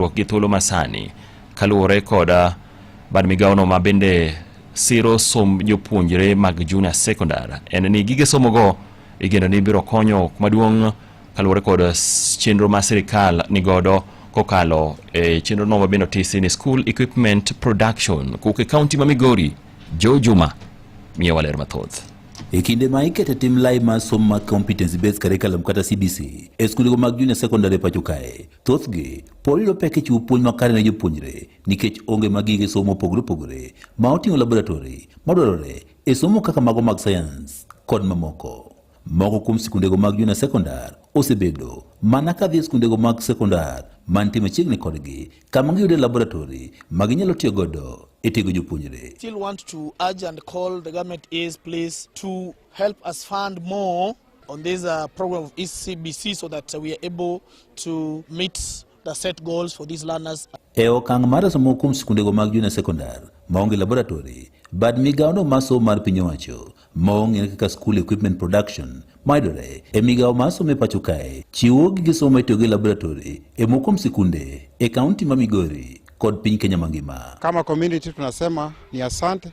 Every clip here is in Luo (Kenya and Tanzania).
tudruok gi thuolo masani kaluwore koda bad migawono ma bende siro somb jopuonjre mag junior secondary en ni gige somogo igeno ni biro konyo maduong' kaluwore kod chenro ma sirikal nigodo kokalo e chenro no mabende otisi ni school equipment production kowuok e kaunti ma migori jo juma miyo waler mathoth E kinde ma ikete tim lai mar somo mag competence based curriculum kata CBC e skundego mag junior secondary e pacho kae, Thothgi polo yudo pek e chiwo puonj makare ne jopuonjre nikech onge mag gige somo mopogore opogore ma oting'o laboratori madwarore e somo kaka mago mag sayans kod mamoko. Moko kuom sikundego mag junior sekondar osebedo mana ka dhi e sikundego mag sekondar mantie machiegni kodgi kama giyude laboratori ma ginyalo tiyo godo e tego jopuonjre. Still want to urge and call the government is please to help us fund more On this uh, program of ECBC so that we are able to meet the set goals for these learners. E okang' mar somo kuom sikundego mag junior secondar maonge laboratory, bad migawono mar somo mar piny owacho maong'ere kaka school equipment production mayudore e migawo mar somo e pacho kae chiwo gige somo itiyo gi laboratory e moko kuom sikunde e kaunti ma Migori kod piny Kenya mangima. Kama community tunasema ni asante.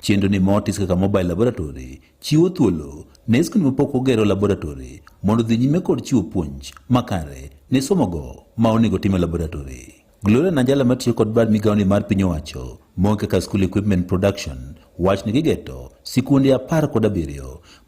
Chenro ni motis kaka mobile laboratory chiwo thuolo ne skul mapok ogero laboratory mondo dhi nyime kod chiwo puonj makare ne somogo ma onego time laboratory. Gloria Najala matiyo kod bad migawoni mar piny owacho moke ka School Equipment Production wach ni gigeto sikunde apar kod abiriyo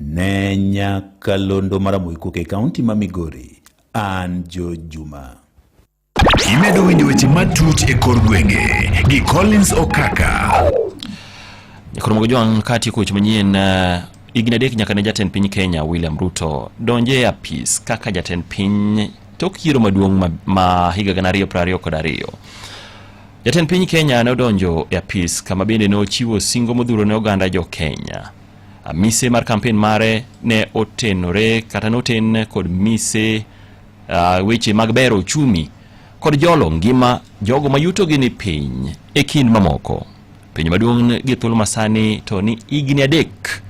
Ne nyakalondo mar Amoiko e kaunti ma Migori, an Jo Juma. Imedo winjo weche matut e kor gwenge gi Collins Okaka. Jakoro Mogojwang' ka tieko weche manyien uh, higni adek nyaka ne jatend piny Kenya William Ruto donje e apis kaka jatend piny tok yiero maduong' ma, ma higa gana ariyo piero ariyo kod ariyo. Jatend piny Kenya ne odonjo e apis kama bende ne ochiwo singo modhuro ne oganda jo Kenya. Mise mar kampen mare ne otenore kata noten kod mise uh, weche mag bero uchumi kod jolo ngima jogo ma yutogi ni piny e kind mamoko. Penjo maduong' gi thuolo masani to ni higni adek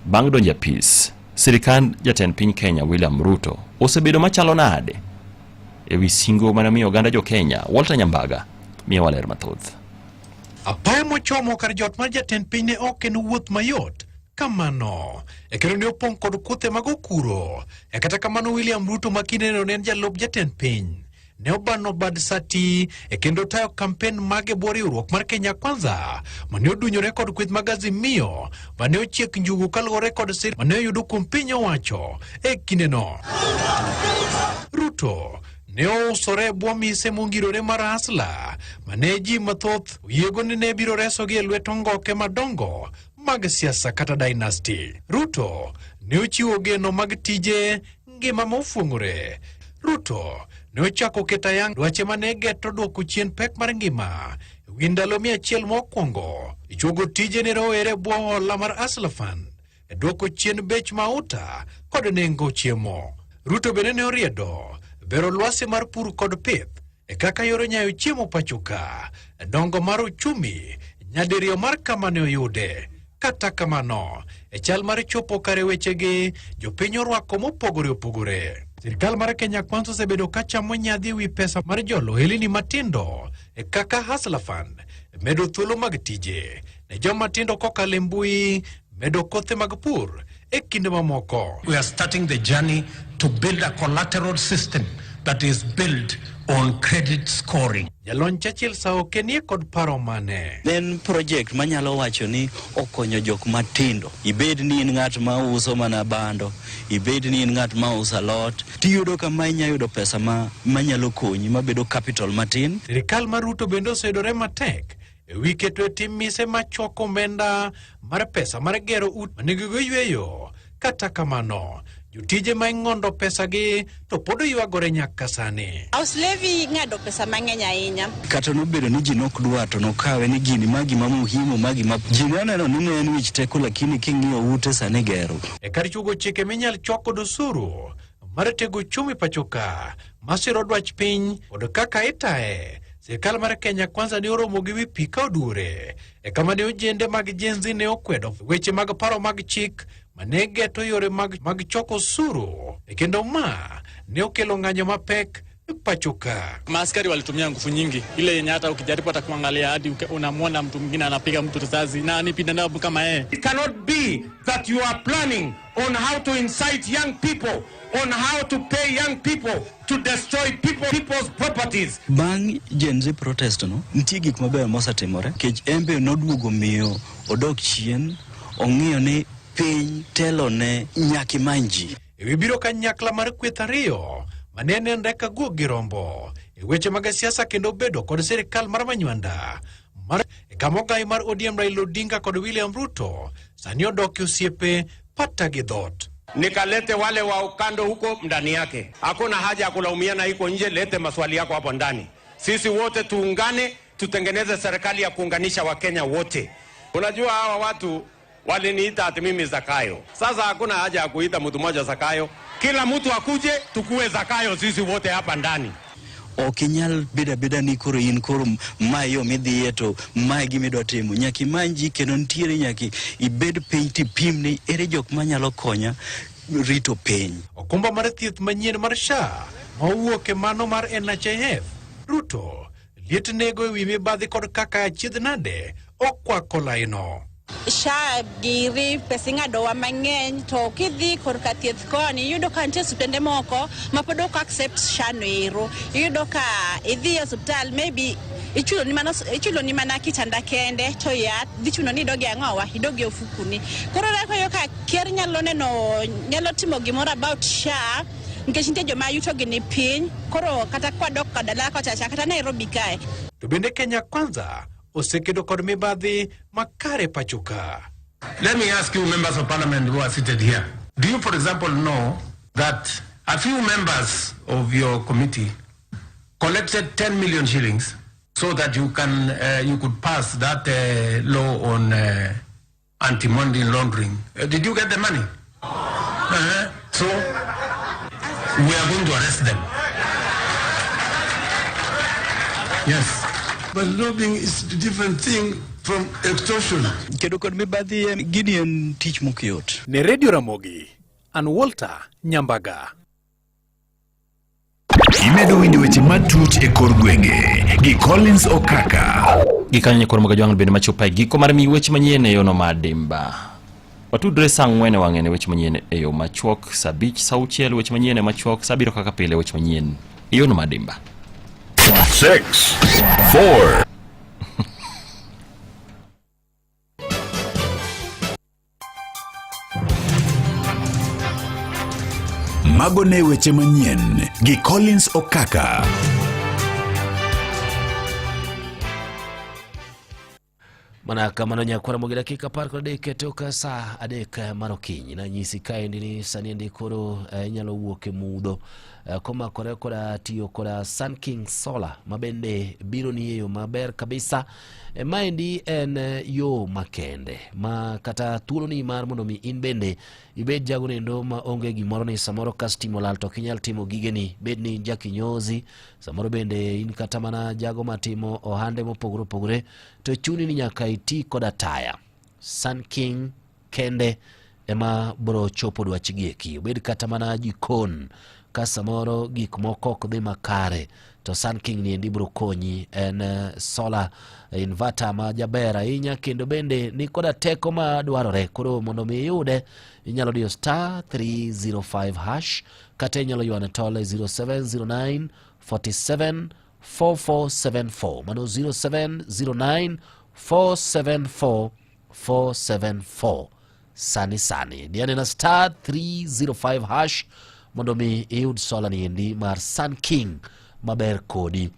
bang' donjo apis sirikand jatend piny Kenya William Ruto osebedo machalo nade e wi singo mane omiyo oganda jo Kenya. Walter Nyambaga miyo waler mathoth. Apaya mochomo kar jot mar jatend piny ne ok en wuoth mayot kamano e kendo ne opong' kod kuthe mag okuro e kata kamano William Ruto ma kindeno ne en jalup jatend piny ne obano bad sati e kendo tayo kampen mage bwo riwruok mar Kenya Kwanza mane odunyore kod kweth mag Azimio mane ochiek njugu kaluwore kod sir mane oyudo kuom piny owacho e kindeno Ruto ne ousore e bwo mise mongirore mar Asla, ma ne ji mathoth oyiego ni ne biro resogi e lwet ongoke madongo mag siasa kata dynasty. Ruto ne ochiwo geno mag tije ngima mofuong'ore. Ruto ne ochako keto ayang dwache ma ne geto dwoko chien pek mar ngima e wi ndalo mia achiel mokwongo. Ichuogo tije ne rowere e bwo hola mar Asla Fund e dwoko chien bech mauta kod nengo chiemo. Ruto bende ne oriedo bero lwasi mar pur kod pith e kaka yore nyayo chiemo pachoka e dongo mar uchumi nyadiriyo mar kama ne oyude. Kata kamano, e chal mar chopo kare wechegi, jopiny orwako mopogore opogore. Sirkal mar Kenya Kwanza osebedo ka chamo nyadhi e wi pesa mar jolo ohelini matindo e kaka Hustler Fund medo thuolo mag tije ne joma tindo kokalo e mbui medo kothe mag pur e kinde mamoko. We are starting the journey to build a collateral system that is built on credit scoring. Jalony Churchill Saoke nie kod paro mane? En project manyalo wacho ni okonyo jok matindo. Ibed ni in ng'at ma uso mana bando, ibed ni in ng'at ma uso alot, tiyudo kama inya yudo pesa ma manyalo konyi mabedo capital matin. Sirikal mar Ruto bende oseyudore matek e wi keto e tim mise ma choko omenda mar pesa mar gero ut ma nigi yweyo. Kata kamano, jotije ma ing'ondo pesagi to pod oywagore nyaka sani. House levy ng'ado pesa mang'eny ahinya. Kata nobedo ni ji nok dwa to nokawe ni gini ma gima muhimu ma gima ji ne oneno ni ne en wich teko lakini king'iyo ute sani gero. E kar chugo chike minyal choko dosuru, mar tego uchumi pachoka masiro dwach piny kod kaka itaye Sirkal mar Kenya Kwanza ne oromo gi wi pi ka oduore e kama ne ojende mag jenzi ne okwedo weche mag paro mag chik ma ne geto yore mag choko osuru e kendo ma ne okelo ng'anyo mapek pachuka. Maaskari walitumia nguvu nyingi, ile yenye hata ukijaribu hata kuangalia hadi uke- unamwona mtu mwingine anapiga mtu risasi na ni binadamu kama yeye. It cannot be that you are planning on how to incite young people, on how to pay young people to destroy people, people's properties. Bang' Gen Z protest no, nitie gik mabeyo mosetimore kech embe noduogo miyo odok chien ong'iyo ni piny telone nyaki manji. e wi biro kanyakla mar kweth ariyo ma ne nenre ka guok gi rombo e weche mag siasa kendo bedo kod sirikal mar manywanda mar e kama ogai mar ODM Raila Odinga kod William Ruto sani odoki osiepe pata gi dhot. nikalete wale wa ukando huko ndani yake. Hakuna haja ya kulaumiana iko nje, lete maswali yako hapo ndani. Sisi wote tuungane, tutengeneze serikali ya kuunganisha Wakenya wote. Unajua hawa watu Waliniita ati mimi Zakayo. Sasa hakuna haja ya kuita mtu mmoja Zakayo, kila mtu akuje tukue Zakayo sisi wote hapa ndani. ok inyal bedo abeda ni koro in koro ma yo midhiye to mae gima idwa timo nyaka imany ji kendo nitiere nyaka ibed piny tipim ni ere jok manyalo konya rito piny okumba mar thieth manyien mar SHA ma owuok e mano mar NHIF. Ruto Liet nego e wi mibadhi kod kaka achiedh nade okwako laino. SHA giri pesa ing'adowa mang'eny to kidhi korka thieth koni iyudo ka nitie osiptende moko ma pod ok accept SHA no ero iyudo ka idhi e osiptal maybe ichulo ni mana ichulo ni mana kitanda kende to yath dhi chuno ni idogi ang'owa idogi ofukuni koro reko yo ka ker nyalo neno nyalo timo gimoro about SHA nikech nitie joma yutogi ni piny koro kata kwadok ka dala kochacha kata nairobi kae To bende Kenya Kwanza osekedo kod mibadhi makare pachoka. Let me ask you members of parliament who are seated here. Do you, for example, know that a few members of your committee collected 10 million shillings so that you can uh, you could pass that uh, law on uh, anti money laundering. Uh, did you get the money? Uh-huh. So we are going to arrest them. Yes. But lobbying is a different thing from extortion. Kedo kod mibadhi en gini en tich mokiyot. Ne Radio Ramogi, an Walter Nyambaga. Imedo winjo weche matut e kor gwenge gi Collins Okaka. Gikanyo koro moga jwang'no bende machopo e giko mar mi weche manyien e yono madimba. Watudre saa ang'wen e wang'e ne weche manyien e yo machuok, saa abich, saa auchiel weche manyien e machuok, saa abiriyo kaka pile weche manyien e yono madimba. Six, four, Mago ne weche manyien gi Collins Okaka. mana kamano nyakwara mogi dakika par kod adek toka saa adek eh, mar okinyi nanyisi kaendi ni sani endi koro eh, inyalo wuok e mudho eh, komakore koda tiyo koda sun king solar mabende biro ni e yo maber kabisa E, maendi en e, yo makende ma kata thuolo ni mar mondo mi in bende ibed jago nendo ma onge gimoro ni samoro kas timo lal to kinyal timo gigeni bed ni in jakinyozi samoro bende in kata mana jago matimo ohande mopogore opogore to chuni ni nyaka iti koda taya sun king kende ema bro chopo dwachgi eki obed kata mana jikon ka samoro gik moko ok dhi makare to Sun King ni endi bro konyi en eh, solar inverter ma jaber ahinya kendo bende ni koda teko ma dwarore koro mondo mi iyude inyalo diyo star 305 hash kata inyalo ywane tole 0709 47 4474 mano 0709 474 474 sani sani diane na star 305 hash mondo mi iyud sola ni endi mar sun king maber kodi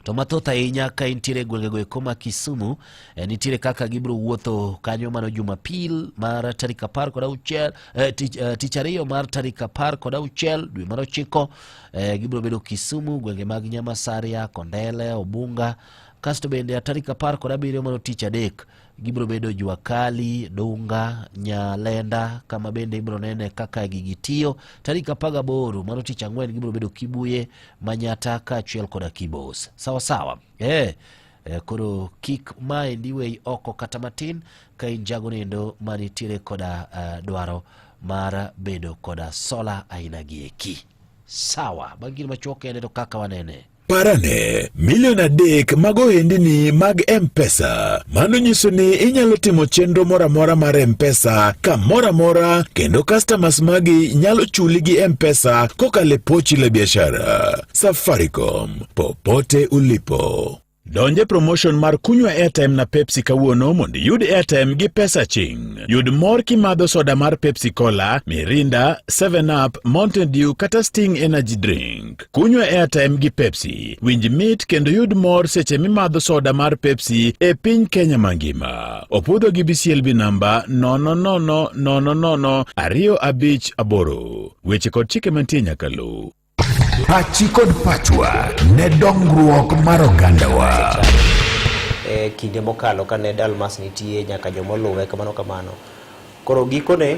to mathoth ahinya ka intiere e gwengego eko ma kisumu eh, nitiere kaka gibiro wuotho kanyo mano jumapil mar tarik apar kod auchiel eh, tich, eh, tich ariyo mar tarik apar kod auchiel dwe mar ochiko eh, gibiro bedo kisumu gwenge mag nyamasaria kondele obunga kasto bende tarik apar kod abiriyo mano tich adek gibiro bedo jua kali dunga nyalenda kama bende ibiro nene kaka gigi tiyo tarik apar gaboro mano tich ang'wen gibiro bedo kibuye manyata kaachiel koda kibos sawasawa eh eh, koro kik maendi weyi oko kata matin ka in jago nindo manitiere koda eh, dwaro mar bedo koda sola aina gi eki sawa bangine machuok ene to kaka wanene Parane milion adek mag ohendini mag M-Pesa. Mano nyiso ni inyalo timo chenro moro amora mar M-Pesa kamoro amora kendo customers magi nyalo chuli gi M-Pesa kokalo e pochi la biashara. Safaricom, popote ulipo. Donje promotion mar kunywa airtime na Pepsi kawuono mondo iyud airtime gi pesa ching. Yud mor kimadho soda mar Pepsi Cola, Mirinda, 7 Up, Mountain Dew kata Sting Energy Drink. Kunywa airtime gi Pepsi, winj mit kendo yud mor seche mimadho soda mar Pepsi e piny Kenya mangima. Opudho gi BCLB namba 0000025 Weche kod chike mantie nyaka luw. Pachi kod pachwa ne dongruok mar ogandawa. E kinde mokalo kane Dalmas nitie nyaka jomoluwe kamano kamano. Koro gikone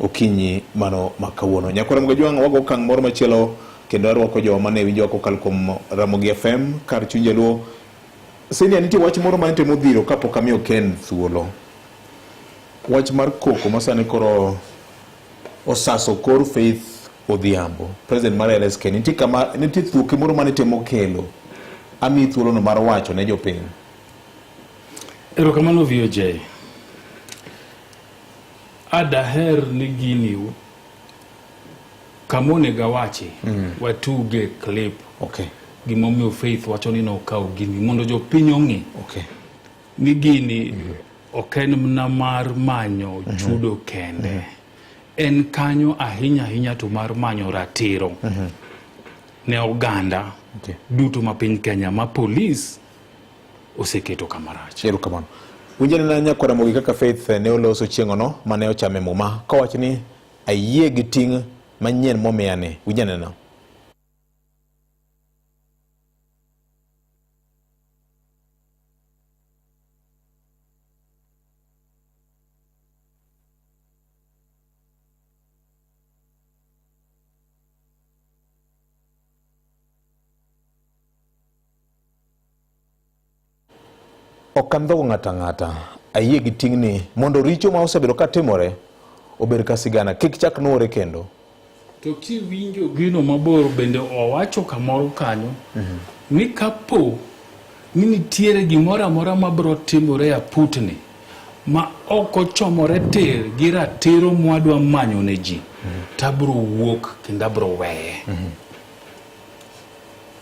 okinyi mano ma kawuono. Nyakwar Mgajwang' wago okang' moro machielo kendo arwako jo mane winjowa kokalo kuom Ramogi FM kar chuny Jaluo. Senia, nitie wach moro mane temo dhiro kapok amiyo Ken thuolo. Wach mar koko masani koro osaso kor Faith Odhiambo, president mar LSK. Nitie kama nitie thuoke moro mane temo kelo. Ami thuolono mar wacho ne jopiny. Erokamano VOJ. Adaher ni gini kama onego awache mm. watuge clip okay. gimomiyo Faith wacho ni nokawo gini mondo jopiny ong'e okay. ni gini mm -hmm. ok en mna mar manyo mm -hmm. chudo kende mm -hmm. en kanyo ahinya ahinya to mar manyo ratiro mm -hmm. ne oganda okay. duto ma piny Kenya ma polis oseketo kama rach. Erokamano. Winjane na nyakwara mogi kaka Faith ne oloso chieng'ono mane ochame muma kowach ni ayie gi ting' manyien momiyani. Winjane na. Ok andhogo ng'ato ang'ata. Ayie gi ting'ni mondo richo ma osebedo ka timore obed ka sigana, kik chak nuore kendo. To kiwinjo gino mabor bende owacho kamoro kanyo mhm. ni kapo ni nitiere gimoro amora mabiro timore e aputni ma ok ochomore tir gi ratiro mwadwa manyo ne ji, mhm. to abiro wuok kendo abiro weye. Mhm.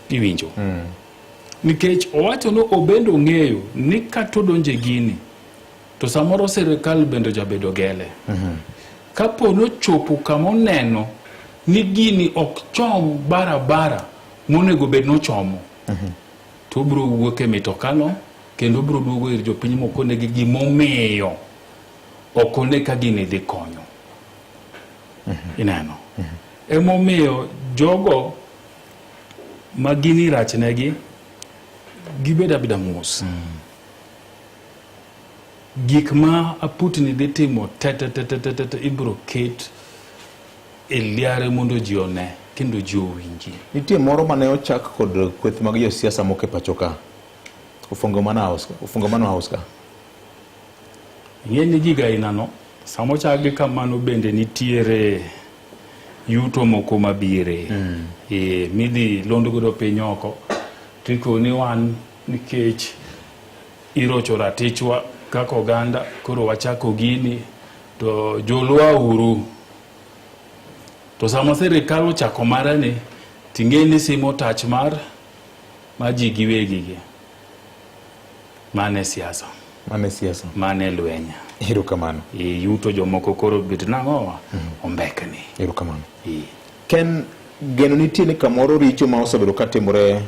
Iwinjo? Mm. Nikech owacho ni obendo ng'eyo ni kato donje gini to samoro sirikal bende jabedo gele. Mm -hmm. Kapo nochopo kama oneno ni gini ok chom barabara monego bed nochomo. Mm -hmm. To obiro wuok e mitokano kendo obiro duogo ir jopiny mokonegi gimomiyo ok one ka gini dhi konyo. Mm -hmm. Ineno? Mm -hmm. Emomiyo jogo ma gini rachnegi gibed abeda mos mm. gik ma aputni dhi timo tetetetetete ibro ket e liare mondo ji one kendo ji owinji nitie moro mane ochak kod kweth mag josiasa moko e pacho ka ofungo mano house ka ing'e ni gigainano sama ochakgi kamano bende nitiere yuto moko mabire mm. e, midhi lond godo piny oko tikoni wan nikech irocho ratichwa kaka oganda koro wachako gini to jolwa uru to sama sirikal ochako marani ting'e ni simo tach mar ma ji giwegigi Mane siasa. Mane siasa. Mane lwenya. Hiro kamano. E, yuto jomoko koro bit nang'owa. Mm -hmm. Ombekni. Hiro kamano. E. Ken geno nitie ni kamoro richo ma osebedo ka timore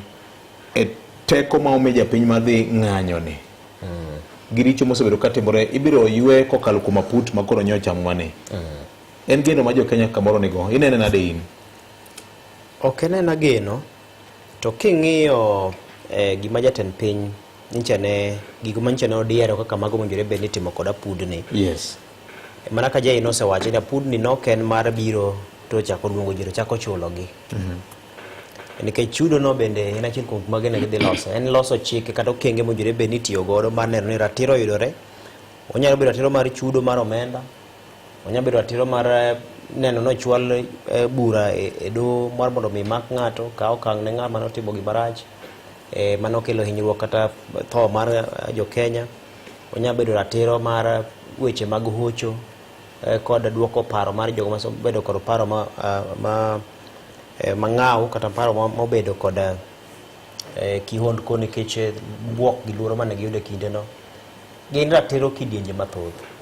e teko ma omi japiny madhi ng'anyo ni. Mm. Gi richo mosebedo ka timore ibiro ywe kokalo kuom aput ma koro nyocha mwane. Mm. En geno ma jo Kenya kamoro nigo. Inene nade in? Ok enena geno. To king'iyo eh, gima jatend piny nyicha ne gigo manyicha ne odiero kaka mago mowinjore bed ni itimo kod apudni Yes. mana ka jai nosewacho ni apudni nok en mar biro to chako luongo ji to chako chulogi nikech chudono bende en achiel kuom mage ne gidhi loso en loso chike kata okenge mowinjore bed ni itiyo godo mar neno ni ratiro oyudore onyalo bedo ratiro mar chudo mar omenda Onya bedo atiro mar eh, neno nochwal eh, bura e, e do mar mondo mi mak ng'ato ka okang' ne ng'ama notimo gima rach e, mano kelo hinyruok kata tho mar eh, jo Kenya. Onya bedo ratiro mar weche mag hocho e, kod duoko paro mar jogo mabedo kod paro ma, ah, ma e, mang'aw kata paro mobedo kod e, kihondko nikech buok gi luoro mane giyudo e kindeno. Gin ratiro kidienje mathoth.